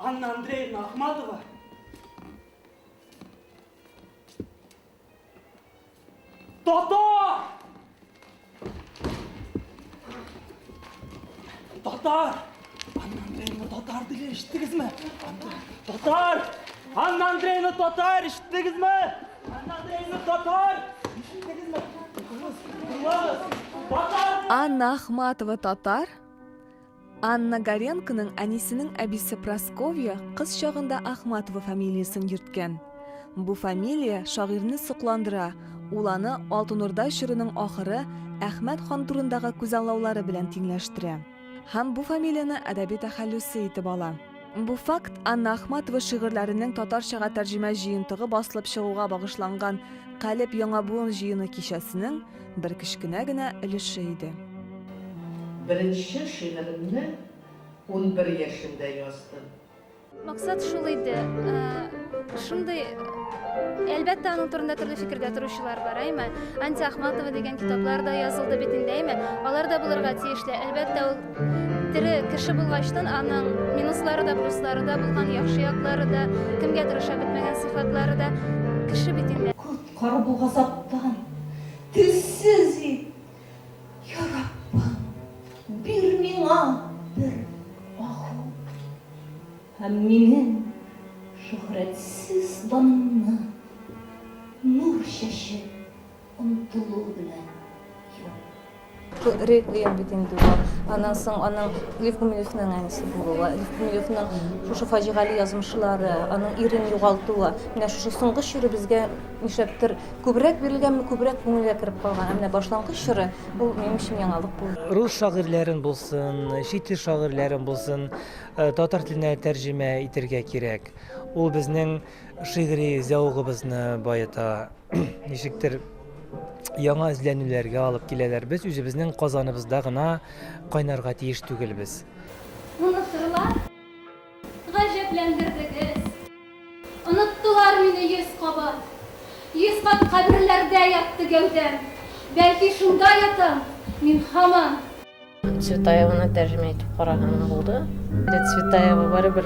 Анна Андреевна Ахматова. Татар! Татар! Анна Андреевна татар дигән ишеттегезме? Татар! Анна Андреевна татар ишеттегезме? Анна Андреевна татар ишеттегезме? Анна Ахматова татар. Анна Горенконың әнисенең әбисе Просковья кыз чагында Ахматова фамилиясен йөрткән. Бу фамилия шагыйрьне сокландыра, ул аны Алтын Урда чорының ахыры Әхмәт хан турындагы күзаллаулары белән тиңләштерә. Һәм бу фамилияне әдәби тәхәллүсе итеп ала. Бу факт Анна Ахматова шигырьләренең татарчага тәрҗемә җыентыгы басылып чыгуга багышланган Калеб яңа буын җыены кичәсенең бер кечкенә генә өлеше иде. Беренче шигыремне унбер яшемдә яздым. Максат шул иде. Шундый Әлбәттә, аның турында төрле фикердә торучылар бар, әйме? Анти Ахматова дигән китаплар да язылды бит инде, әйме? Алар да булырга тиешле. Әлбәттә, ул тере кеше булгачтан аның минуслары да, плюслары да булган, яхшы яклары да, кемгә тырыша бетмәгән сыйфатлары да кеше бит инде. Коткар бу газаптан, телсез ит! Я Раббым, бир миңа бер аху Һәм минем шөһрәтсез данымны Нур чәчеп омтылу белән юп. Ре ем бит инде ул. Аннан соң аның Лев Гумилевның әнисе булуы, Лев Гумилевның шушы фаҗигале язмышлары, аның ирен югалтуы, менә шушы соңгы чире безгә нишләптер Күбрәк бирелгәнме, күбрәк күңелгә кереп калган. Ә менә башлангыч чоры, ул минем өчен яңалык булды. Рус шагыйрьләрен булсын, чит ил шагыйрьләрен булсын, татар теленә тәрҗемә итергә кирәк. Ул безнең шигъри зәвыгыбызны баета, ничектер яңа эзләнүләргә алып киләләр. Без үзебезнең Казаныбызда гына кайнарга тиеш түгелбез. Ул нык торыла. Гаҗәпләндердегез. Оныттылар мине йөз кабат. Йөз кат каберләрдә ятты гәүдәм. Бәлки шунда ятам мин һаман. Цветаеваны тәрҗемә итеп караган булды. Цветаева барыбер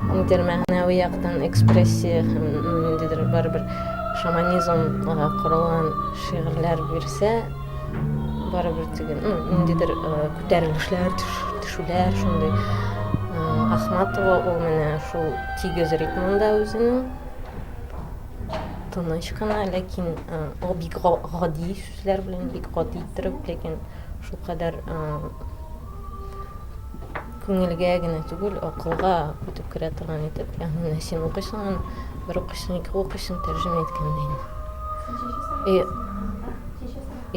ниндидер мәгънәви яктан экспрессия һәм ниндидер барыбер шаманизмга корылган шигырьләр бирсә, барыбер теге ну ниндидер күтәрелешләр төшүләр шундый ахматова ул менә шул тигез ритмында үзенең тыныч кына ләкин ул бик гади сүзләр белән бик гади иттереп ләкин шулкадәр Күңелгә генә түгел, акылга үтеп керә торган итеп, ягъни менә син укыйсың аны, бер укыйсың, ике укыйсың, тәрҗемә иткәндә инде. И,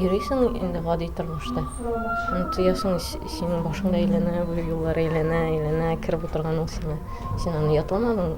йөрисең инде гади тормышта. Аны тоясың, синең башыңда әйләнә, бу юллар әйләнә, әйләнә, кереп утырган ул сиңа. Син аны ятламадың.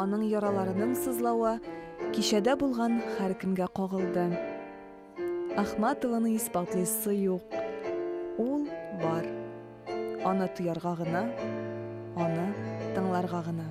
Аның яраларының сызлавы кичәдә булган һәркемгә кагылды. Ахматованы исбатлыйсы юк. Ул бар. Аны тоярга гына, аны тыңларга гына.